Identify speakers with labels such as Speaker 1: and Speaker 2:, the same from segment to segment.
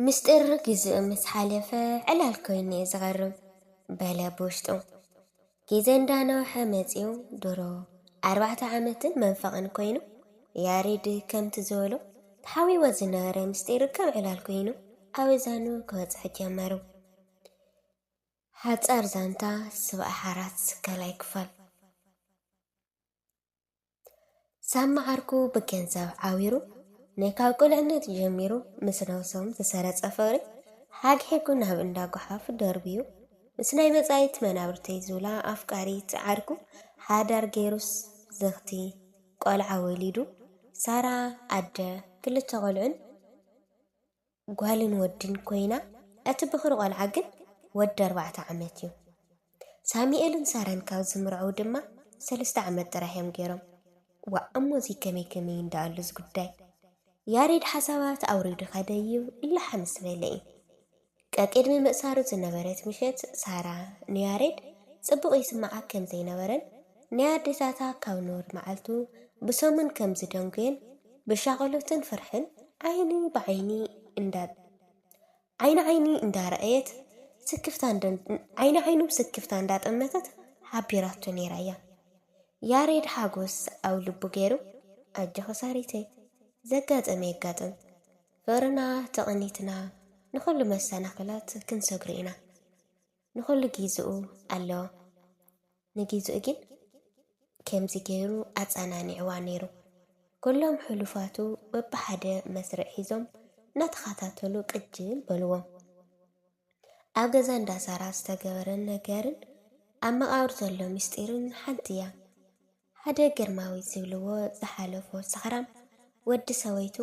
Speaker 1: ምስጢር ግዜኡ ምስ ሓለፈ ዕላል ኮይኑ'የ ዝቐርብ በለ ብውሽጡ። ግዜ እንዳነውሐ መጺኡ ድሮ ኣርባዕተ ዓመትን መንፈቕን ኮይኑ ያሬድ ከምቲ ዝበሎ ተሓቢእዎ ዝነበረ ምስጢር ከም ዕላል ኮይኑ ኣብ እዛኑ ክበጽሕ ጀመሩ። ሓጻር ዛንታ ስብኣሓራት ካልኣይ ክፋል ሳሚ ዓርኩ ብገንዘብ ዓዊሩ ናይ ካብ ቁልዕነት ጀሚሩ ምስ ነብሶም ዝሰረጸ ፍቕሪ ሓግሒጉ ናብ እንዳ ጎሓፍ ደርብዩ ምስ ናይ መጻኢት መናብርተይ ዝብላ ኣፍቃሪት ዓርኩ ሓዳር ገይሩስ ዝኽቲ ቆልዓ ወሊዱ ሳራ ኣደ ክልተ ቆልዑን ጓልን ወድን ኰይና፣ እቲ ብዅሪ ቈልዓ ግን ወዲ ኣርባዕተ ዓመት እዩ። ሳሙኤልን ሳራን ካብ ዝምርዐዉ ድማ ሰለስተ ዓመት ጥራሕ እዮም ገይሮም። ዋእ እሞ እዚ ከመይ ከመይ እንዳኣሉ እዚ ጉዳይ። ያሬድ ሓሳባት ኣውሪዱ ከደ እዩ ላሕ ምስ በለ እዩ። ቀቅድሚ ምእሳሩ ዝነበረት ምሸት ሳራ ንያሬድ ጽቡቕ ይስምዓ ከም ዘይነበረን፣ ንኣዴታታ ካብ ኑር መዓልቱ ብሰሙን ከም ዝደንጉየን ብሻቕሎትን ፍርሕን ዓይኒ ብዓይኒ እንዳ ዓይኒ ዓይኒ እንዳረኣየት ስክፍታ ዓይኒ ዓይኑ ስክፍታ እንዳጠመተት ሓቢራቶ ነይራ'ያ። ያሬድ ሓጎስ ኣብ ልቡ ገይሩ ኣጆኺ ሳሪተይ ዘጋጠመ የጋጥም ፍቕርና ተቐኒትና ንኹሉ መሰናኽላት ክንሰግሮ ኢና። ንኹሉ ጊዝኡ ኣለዎ ንጊዝኡ ግን ከምዚ ገይሩ ኣጸናኒዕዋ ነይሩ። ኩሎም ሕሉፋቱ በብሓደ መስርዕ ሒዞም እናተኸታተሉ ቅጅል በልዎም። ኣብ ገዛ እንዳ ሳራ ዝተገበረ ነገርን ኣብ መቓብር ዘሎ ምስጢርን ሓንቲ እያ። ሓደ ግርማዊ ዝብልዎ ዝሓለፎ ሰኽራም ወዲ ሰበይቱ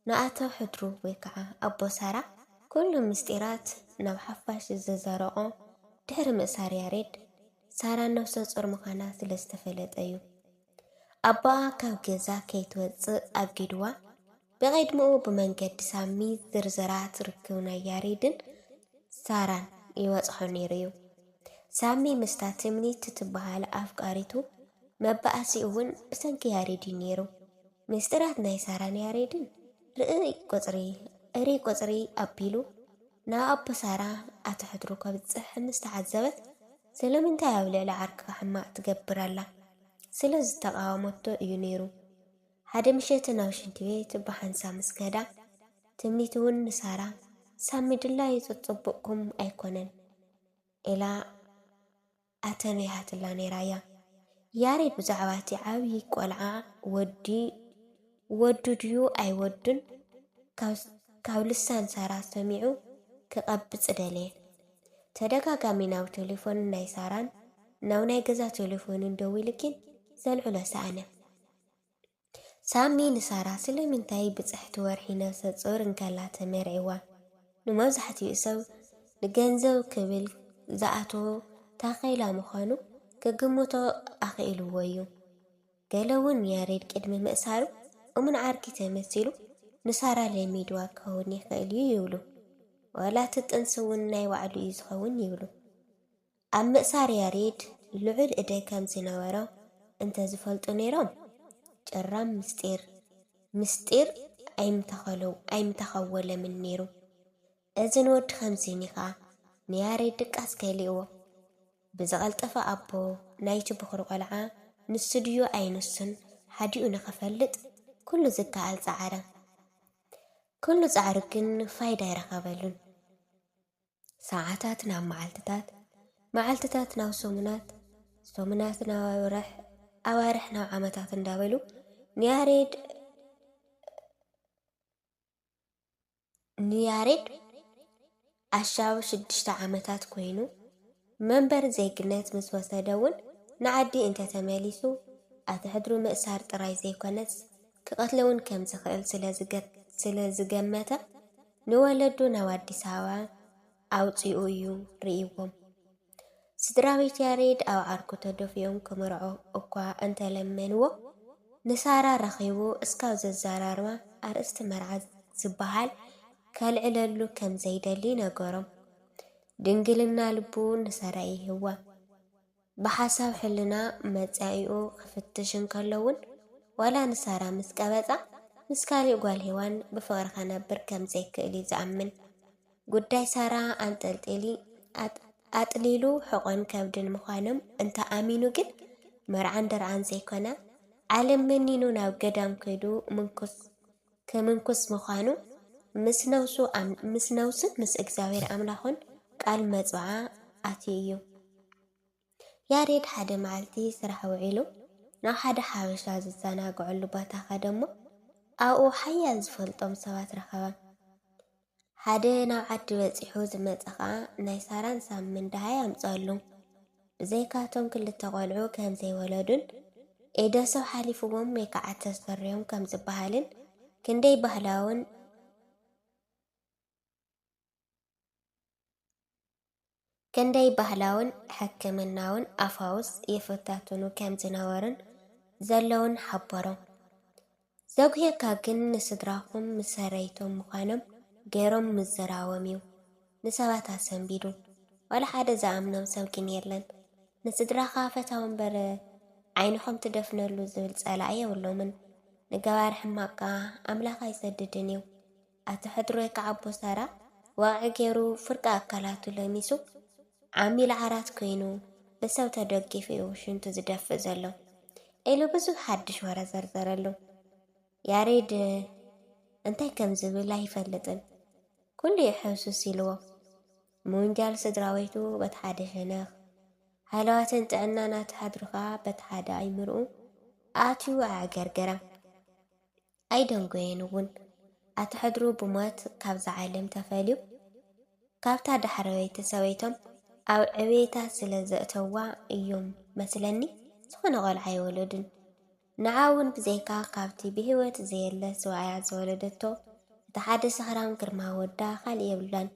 Speaker 1: ንኣቶ ሕድሩ ወይ ከዓ ኣቦ ሳራ ኩሉ ምስጢራት ናብ ሓፋሽ ዘዘረቖ ድሕሪ ምእሳር ያሬድ ሳራ ነብሰ ጾር ምዃና ስለ ዝተፈለጠ እዩ። ኣቦኣ ካብ ገዛ ከይትወጽእ ኣጊድዋ። ብቕድሚኡ ብመንገዲ ሳሚ ዝርዝራት ርክብ ናይ ያሬድን ሳራን ይበጽሖ ነይሩ'ዩ። ሳሚ ምስታ ትምኒት ትበሃል ኣፍቃሪቱ መባኣሲኡ'ውን ብሰንኪ ያሬድ'ዩ ነይሩ። ምስጢራት ናይ ሳራን ያሬድን ርእይ ቁጽሪ እርይ ቁጽሪ ኣቢሉ ናብ ኣቦ ሳራ ኣቶ ሕድሩ ከብጽሕ ምስ ተዓዘበት ስለምንታይ ኣብ ልዕሊ ዓርክኻ ሕማቕ ትገብር ኣላ ስለ ዝተቓወመቶ እዩ ነይሩ። ሓደ ምሸት ናብ ሽንቲ ቤት ብሓንሳብ ምስ ከዳ፣ ትምኒት እውን ንሳራ፣ ሳሚ ድላዩ ጸጸቡቕኩም ኣይኮነን፣ ኢላ ኣተንቢሃትላ ነይራ እያ። ያሬድ ብዛዕባ እቲ ዓብዪ ቆልዓ ወዲ ወዱ ድዩ ኣይወዱን ካብ ልሳን ሳራ ሰሚዑ ክቐብጽ ደለየ። ተደጋጋሚ ናብ ቴሌፎን ናይ ሳራን ናብ ናይ ገዛ ቴሌፎኑን ደዊሉኪን ዘልዕሎ ሰኣነ። ሳሚ ንሳራ ስለምንታይ ብጽሕቲ ወርሒ ነፍሰጾር እንከላ ተመርዒዋ? ንመብዛሕትኡ ሰብ ንገንዘብ ክብል ዝኣትዎ ታኼላ ምዃኑ ክግምቶ ኣኽኢልዎ'ዩ። ገለ'ውን ያሬድ ቅድሚ ምእሳሩ እሙን ዓርኪ ተመሲሉ ንሳራ ለሚድዋ ክኸውን ይኽእል'ዩ ይብሉ። ዋላ'ቲ ጥንሲ'ውን ናይ ባዕሉ'ዩ ዝኸውን ይብሉ። ኣብ ምእሳር ያሬድ ልዑል እደ ከም ዝነበሮ እንተ ዝፈልጡ ነይሮም፣ ጭራም ምስጢር ምስጢር ኣይምተኸወለምን ነይሩ። እዚ ንወዲ ከምዚኒ ኸኣ ንያሬድ ድቃስ ከሊእዎ። ብዝቐልጠፈ ኣቦ ናይቲ ብዅሪ ቈልዓ ንሱ ድዩ ኣይንሱን ሓዲኡ ንኽፈልጥ ኵሉ ዝከኣል ጸዓረ። ኵሉ ጻዕሩ ግን ፋይዳ ኣይረኸበሉን። ሰዓታት ናብ መዓልትታት፣ መዓልትታት ናብ ሰሙናት፣ ሰሙናት ናብ ኣዋርሕ፣ ኣዋርሕ ናብ ዓመታት እንዳበሉ ንያሬድ ንያሬድ ኣሻብ ሽዱሽተ ዓመታት ኮይኑ መንበር ዜግነት ምስ ወሰደ እውን ንዓዲ እንተተመሊሱ ኣቲ ሕድሪ ምእሳር ጥራይ ዘይኮነስ፣ ክቐትሎ'ውን ከም ዝኽእል ስለ ዝገመተ፣ ንወለዱ ናብ ኣዲስ ኣበባ ኣውጺኡ እዩ ርእይዎም። ስድራቤት ያሬድ ኣብ ዓርኩ ተደፊኦም ክምርዖ እኳ እንተ ለመንዎ፣ ንሳራ ረኺቡ እስካብ ዘዘራርባ ኣርእስቲ መርዓ ዝበሃል ከልዕለሉ ከም ዘይደሊ ነገሮም። ድንግልና ልቡ ንሳራ ይህባ። ብሓሳብ ሕልና መጻኢኡ ክፍትሽ እንከሎ'ውን፣ ዋላ ንሳራ ምስ ቀበጻ፣ ምስ ካልእ ጓል ሄዋን ብፍቕሪ ከነብር ከም ዘይክእል'ዩ ዝኣምን። ጉዳይ ሳራ ኣንጠልጢሊ ኣጥሊሉ ሕቖን ከብድን ምዃኖም እንተ ኣሚኑ ግን፣ መርዓን ደርዓን ዘይኮነ፣ ዓለም መኒኑ ናብ ገዳም ከይዱ ምንኩስ ክምንኩስ ምዃኑ ምስ ነብሱን ምስ እግዚኣብሔር ኣምላኹን ቃል መጽውዓ ኣትዩ እዩ። ያሬድ ሓደ መዓልቲ ስራሕ ውዒሉ ናብ ሓደ ሓበሻ ዝዘናግዐሉ ቦታ ከደ እሞ ኣብኡ ሓያል ዝፈልጦም ሰባት ረኸበ። ሓደ ናብ ዓዲ በጺሑ ዝመጸ ከኣ ናይ ሳራን ሳሚን ደሃይ ኣምጸኣሉ። ብዘይካ እቶም ክልተ ቆልዑ ከም ዘይወለዱን ኢደ ሰብ ሓሊፍዎም ወይ ከኣ ተሰሪዮም ከም ዝበሃልን ክንደይ ባህላውን ክንደይ ባህላውን ሕክምናውን ኣፋውስ ይፍታትኑ ከም ዝነበሩን ዘለዉን ሓበሮም። ዘጉህየካ ግን ንስድራኹም ምሰረይቶም ምዃኖም ገይሮም ምዝራቦም'ዩ ንሰባት ኣሰንቢዱ። ዋላ ሓደ ዝኣምኖም ሰብ ግን የለን። ንስድራኻ ፈታው'ምበር ዓይንኹም ትደፍነሉ ዝብል ጸላኢ የብሎምን። ንገባሪ ሕማቕ ከኣ ኣምላኽ ኣይሰድድን'ዩ። ኣቲ ሕድሮይ ክኣ ኣቦ ሳራ ዋቒ ጌሩ ፍርቂ ኣካላቱ ለሚሱ ዓሚል ዓራት ኮይኑ ብሰብ ተደጊፉ እዩ ሽንቱ ዝደፍእ ዘሎ ኢሉ ብዙሕ ሓድሽ ወረ ዘርዘረሉ። ያሬድ እንታይ ከም ዝብል ኣይፈልጥን ኩሉ እዩ ሕውስውስ ኢልዎ። ምውንጃል ስድራወይቱ በቲ ሓደ ሸነኽ፣ ሃለዋትን ጥዕናን ኣቲ ሕድሩ ከኣ በቲ ሓደ ኣይምርኡ ኣትዩ ኣዕገርገራ። ኣይደንጎየን እውን። ኣቲ ሕድሩ ብሞት ካብዛ ዓለም ተፈልዩ ካብታ ዳሕረወይቲ ሰበይቶም ኣብ ዕብየታ ስለ ዘእተዋ እዮም መስለኒ ዝኾነ ቆልዓ ኣይወለዱን። ንዓ እውን ብዘይካ ካብቲ ብህይወት ዘየለ ሰብኣያ ዝወለደቶ እቲ ሓደ ሰኽራም ግርማ ወዳ ካልእ የብላን።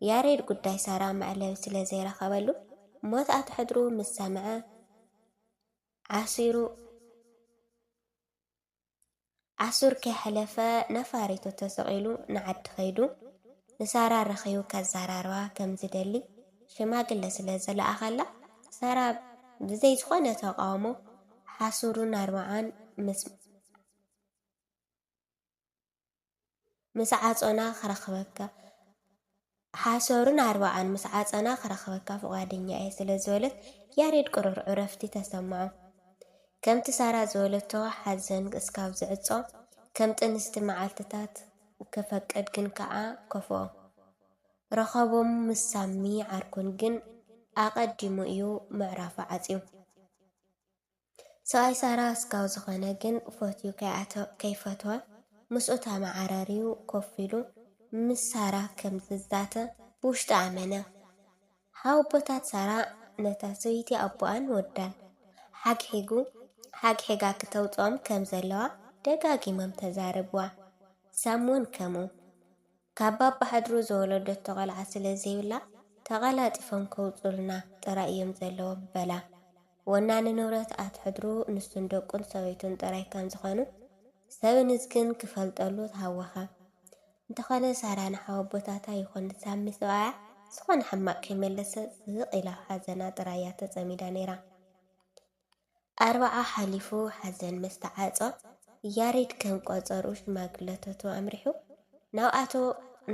Speaker 1: ያሬድ ጉዳይ ሳራ መዕለቢ ስለ ዘይረኸበሉ ሞት ኣቲ ሕድሩ ምስ ሰምዐ ዓሲሩ ኣሱር ከይሐለፈ ነፋሪቱ ተሰቂሉ ንዓዲ ከይዱ ንሳራ ረኪቡ ከዛራርባ ከም ዝደሊ ሽማግለ ስለ ዝለኣኸላ ሳራ ብዘይ ዝኾነ ተቃውሞ ሓሱሩን ኣርባዓን ምስ ምስ ዓጾና ክረኽበካ ሓሰሩን ኣርባዓን ምስ ዓጸና ክረኽበካ ፍቓደኛ እየ ስለ ዝበለት ያሬድ ቅሩር ዕረፍቲ ተሰምዖ። ከምቲ ሳራ ዝበለቶ ሓዘን እስካብ ዝዕጾ ከም ጥንስቲ መዓልትታት ክፈቅድ ግን ከኣ ከፍኦ። ረኸቦም ምስ ሳሚ ዓርኩን ግን ኣቐዲሙ እዩ ምዕራፉ ዓጽዩ። ሰብኣይ ሳራ ኣስጋው ዝኾነ ግን ፈትዩ ከይፈትወ ምስኡ ተመዓራርዩ ኮፍ ኢሉ ምስ ሳራ ከም ዝዛተ ብውሽጡ ኣመነ። ሓወቦታት ሳራ ነታ ሰበይቲ ኣቦኣን ወዳን ሓግሒጉ ሓግሒጋ ክተውጽኦም ከም ዘለዋ ደጋጊሞም ተዛረብዋ። ሳም'ውን ከምኡ። ካብ ባባሕድሩ ዝወለደቶ ቘልዓ ስለ ዘይብላ፣ ተቐላጢፎም ከውጽኡልና ጥራይ እዮም ዘለዎም በላ። ወናኒ ንብረት ኣቲ ሕድሩ ንሱን ደቁን ሰበይቱን ጥራይ ከም ዝዀኑ ሰብንዝ ግን ክፈልጠሉ ተሃወኸ። እንተዀነ ሳራ ንሓወቦታታ ይኹን ንሳሚ ሰብኣያ ዝዀነ ሕማቕ ከይመለሰት ስቕ ኢላ ኣብ ሓዘና ጥራይ እያ ተጸሚዳ ነይራ። ኣርብዓ ሓሊፉ ሓዘን ምስ ተዓጾ፣ ያሬድ ከም ቆጸርኡ ሽማግለታቱ ኣምሪሑ ናብ ኣቶ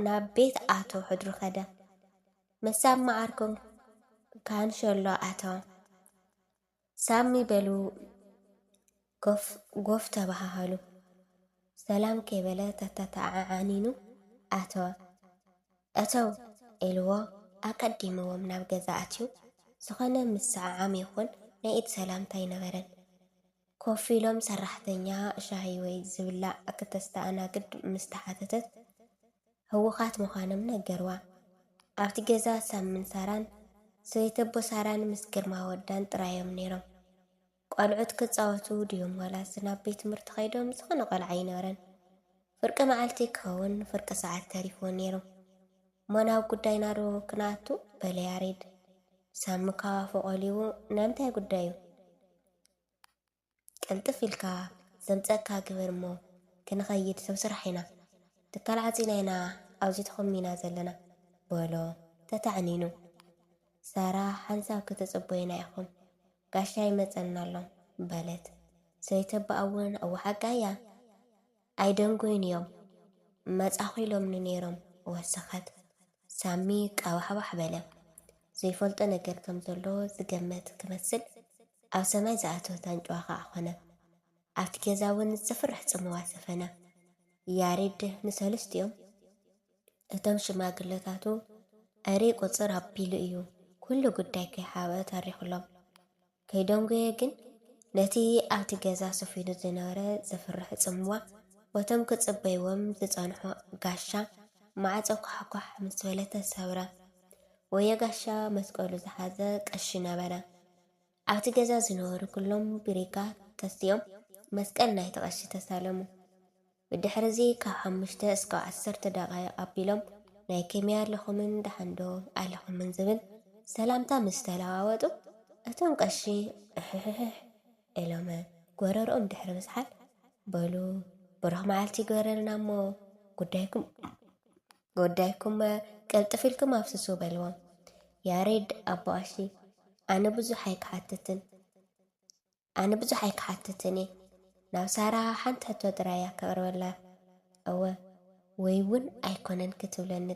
Speaker 1: ናብ ቤት ኣቶ ሕድሩ ከደ። ምስ ሳሚ መዓርኩ ካንሸሎ ኣተወ። ሳሚ በሉ ጎፍ ጎፍ ተበሃሃሉ። ሰላም ከይበለ ተተተዓዓኒኑ ኣተወ። እተው ኢልዎ ኣቀዲምዎም ናብ ገዛ ኣትዩ። ዝኾነ ምስዕዓም ይኹን ናይ ኢድ ሰላምታ ኣይነበረን። ኮፍ ኢሎም ሰራሕተኛ ሻሂ ወይ ዝብላዕ ክተስተኣናግድ ምስ ተሓተተት ህዉኻት ምዃኖም ነገርዋ። ኣብቲ ገዛ ሳሚን ሳራን፣ ሰበይተቦ ሳራን ምስ ግርማ ወዳን ጥራዮም ነይሮም። ቆልዑት ክጻወቱ ድዮም ዋላስ ናብ ቤት ትምህርቲ ከይዶም ዝኾነ ቆልዓ ኣይነበረን። ፍርቂ መዓልቲ ክኸውን ፍርቂ ሰዓት ተሪፍዎ ነይሩ። እሞ ናብ ጉዳይና ዶ ክንኣቱ? በለ ያሬድ። ሳሚ ካብ ኣፉ ቆሊዉ ናይ ምንታይ ጉዳዩ? ቅልጥፍ ኢልካ ዘምጸእካ ግበር እሞ ክንኸይድ ሰብ ስራሕ ኢና። ትካል ዓጺና ኢና ኣብዚ ተኾሚና ዘለና። በሎ ተታዕኒኑ። ሳራ ሓንሳብ ክትጽበዩና ኢኹም። ጋሻ ይመጸና ኣሎ በለት ሰይተባኣ እውን እወ ሓቃ'ያ ኣይደንጎዩን እዮም መጻኹ ኢሎምኒ ነይሮም ወሰኸት ሳሚ ቃባሕባሕ በለ ዘይፈልጦ ነገር ከም ዘሎ ዝገመት ክመስል ኣብ ሰማይ ዝኣተወት ኣንጭዋ ከኣ ኮነ ኣብቲ ገዛ እውን ዘፍርሕ ጽምዋ ሰፈነ ያሬድ ንሰሉስቲኦም እቶም ሽማግለታቱ ዕሬ ቁጽር ኣቢሉ እዩ ኩሉ ጉዳይ ከይሓብአ ተሪኹሎም። ከይደንጎየ ግን ነቲ ኣብቲ ገዛ ሰፊኑ ዝነበረ ዘፍርሕ ጽምዋ ወቶም ክጽበይዎም ዝጸንሑ ጋሻ ማዕጾ ኳሕኳሕ ምስ በለ ተሰብረ። ወየ ጋሻ መስቀሉ ዝሓዘ ቀሺ ነበረ። ኣብቲ ገዛ ዝነበሩ ኵሎም ብሪጋ ተሲኦም መስቀል ናይቲ ቐሺ ተሳለሙ። ብድሕርዚ ካብ ሓሙሽተ እስካብ ዓሰርተ ደቓይቕ ኣቢሎም ናይ ከመይ ኣለኹምን ደሓንዶ ኣለኹምን ዝብል ሰላምታ ምስ ተለዋወጡ፣ እቶም ቐሺ እሕሕሕሕ እሎመ ጐረርኦም ድሕሪ ምዝሓል፣ በሉ ብሩኽ መዓልቲ ይግበረልና'ሞ ጉዳይኩም ጉዳይኩም'መ ቅልጥፍ ኢልኩም ኣፍስሱ በልዎም። ያሬድ ኣቦኣሺ፣ ኣነ ብዙሕ ኣይክሓትትን ኣነ ብዙሕ ኣይክሓትትን'የ፣ ናብ ሳራ ሓንቲ ሕቶ ጥራይ'ያ ከቕርበላ፣ እወ ወይ'ውን ኣይኮነን ክትብለኒ